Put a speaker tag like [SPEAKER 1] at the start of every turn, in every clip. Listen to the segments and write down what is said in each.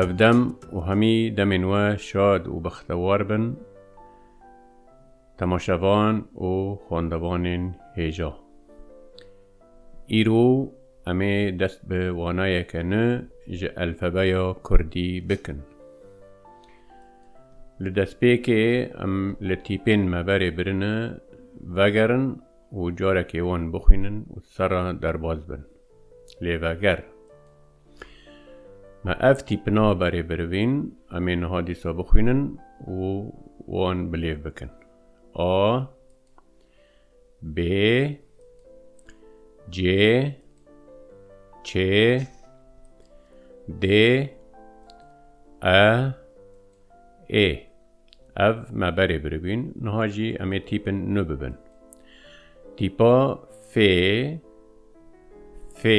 [SPEAKER 1] Ev dem û hemî demên we şad û bextewar bin temaşevan û xwendevanên hêja. Îro em ê dest bi wanayeke ni ji elfebeya kurdî bikin. Li destpêkê em li tîpên me berê birine vegerin û carekê wan bixwînin û serra derbaz bin. Lê veger. Me ev tîpina berê birivîn em ê niha dîsa bixwînin û wan bi lêv bikin. A B C Ç D E ê ev me berê biribîn niha jî em ê tîpin nu bibin tîpa fê fê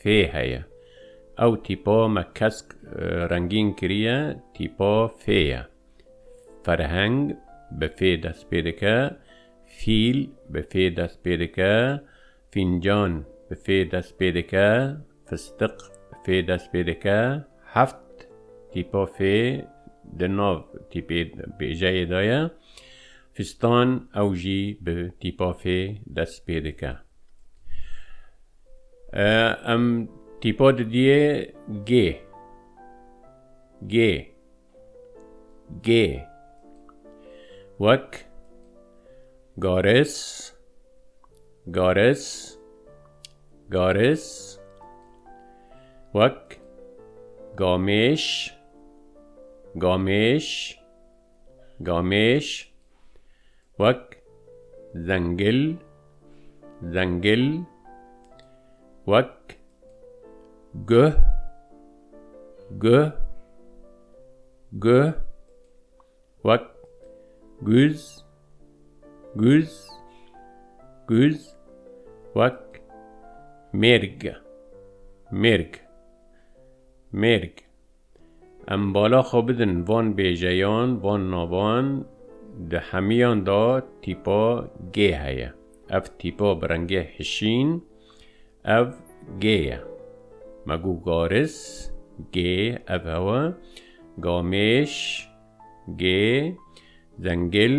[SPEAKER 1] Fê heye. Ew tîpa me kesk rengîn kiriye tîpa fê ye. Ferheng bi fê dest pê dike, fîl bi fê dest pê dike, fîncan bi fê dest pê dike, fistiq bi fê dest pê dike. Heft tîpa fê di nav tîpê bêjeyê de ye. Fistan ew jî bi tîpa fê dest pê dike. Em tîpa didiyê gê. Gê. Gê. Wek garis, garis, garis. Wek gamêş, gamêş, gamêş. Wek, zengil, zengil. Wek, guh, guh, guh. Wek, guz, guz, guz. Wek, mêrg, mêrg, mêrg. Em bala xwe bidin van bêjeyan, van navan, di hemiyan de tîpa gê heye. Ev tîpa bi rengê hişîn, ev gê ye. Me got garis, gê, ev hewa, gamêş, gê, zengil,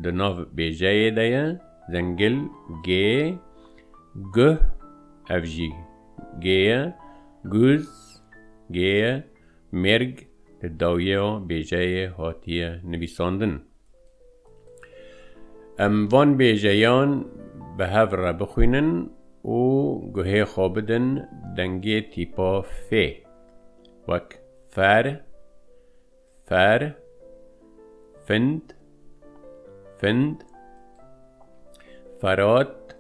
[SPEAKER 1] di nav bêjeyê de ye, zengil, gê, guh, ev jî. Gêye, Guz, Gêye, Mêrg li dawiya bêjeyê hatiye nivîsandin. Em van bêjeyan bi hev re bixwînin û guhê xwe bidin dengê tîpa fê wek fer, Fer, find, find, ferat,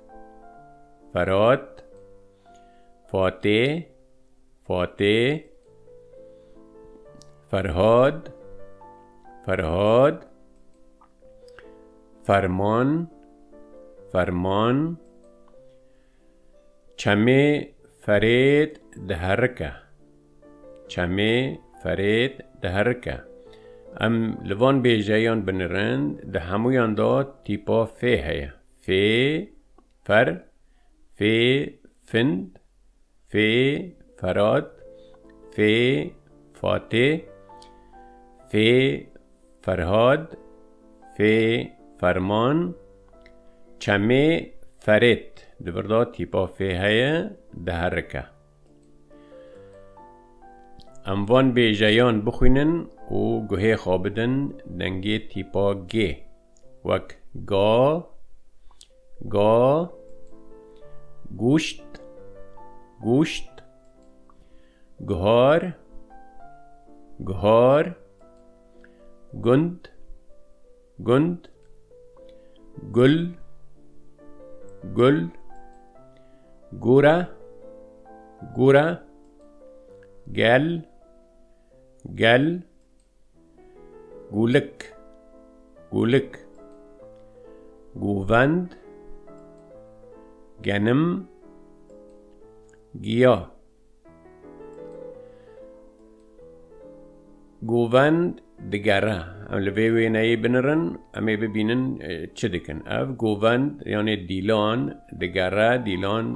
[SPEAKER 1] ferat, fatê, fatê, ferhad, ferhad, ferman, ferman, Çemê ferêd diherike. Çemê ferêd diherike. Em li van bêjeyan binirin di hemûyan de tîpa fê heye. Fê, fer, fê, find, fê, ferad, fê, fatê, fê, Ferhad, fê, ferman, çemê, ferêt, di vir de tîpa fê heye, diherike. Em van bêjeyan bixwînin û guhê xwe bidin dengê tîpa gê wek ga, ga, gûşt, gûşt, guhar, guhar, Gund Gund Gul Gul Gura Gura Gel Gel Gulik Gulik Guvend Genim Giya Govend digere em li vê wêneyê binirin em ê bibînin çi dikin. Ev govend yanê dîlan digere dîlan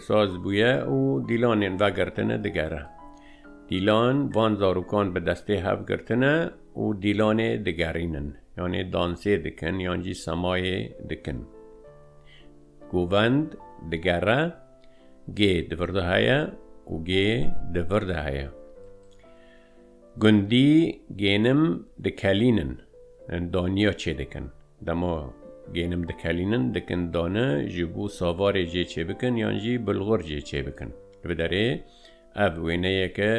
[SPEAKER 1] saz bûye û dîlanên vegirtine digere. Dîlan van zarokan bi destê hev girtine û dîlanê digerînin yanê dansê dikin yan jî semayê dikin. Govend digere. G di vir de heye û G di vir de heye. Gundî gênim dikelînin, daniya çêdikin. Dema gênim dikelînin, dikin dane ji bo savarê cê çêbikin yan jî bilxur cê çêbikin. Li vê derê Ev wêneyeke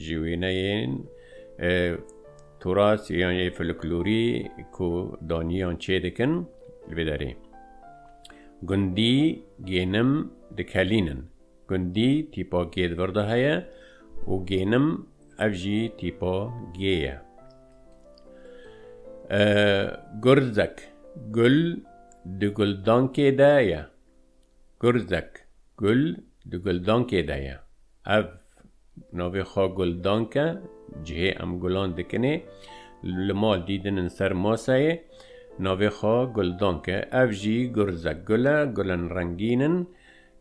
[SPEAKER 1] ji wêneyên Turas yan yê folklorî ku daniyan çê dikin li vê derê. Gundî gênim dikelînin. Gundî tîpa gê di vir de heye û gênim ev jî tîpa gê ye. Gurzek, gul di guldankê de ye. Gurzek, Gul di guldankê de ye. Ev navê xwe guldank e, cihê em gulan dikinê, li mal dîdin in ser maseyê, navê xwe guldank e. Ev jî gurzek gul e, gulên rengîn in,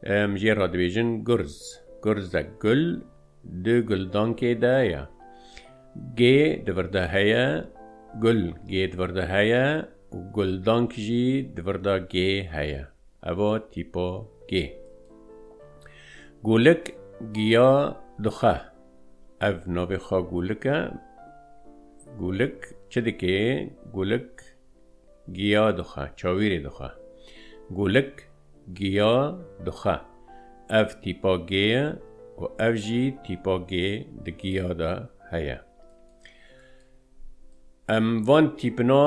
[SPEAKER 1] em jê re dibêjin gurz. Gurzek, Gul di guldankê de ye. Gê di vir de heye, Gul gê di vir de heye û guldank jî di vir de gê heye. Evo tîpo gê. Gûlik giya dixwe. Ev navê xwe gûlik e. Gûlik çi dikê? Gûlik giya dixwe, çawîrê dixwe. Gûlik giya dixwe. Ev tîpa gê ye û ev jî tîpa gê di giya de heye. Em van tîpina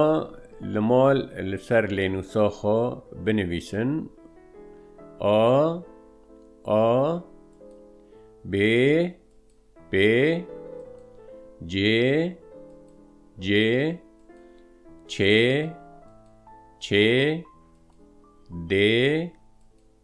[SPEAKER 1] li mal li ser lênûsa xwe binivîsin, A, A, B, B, C, C, Ç, Ç, D,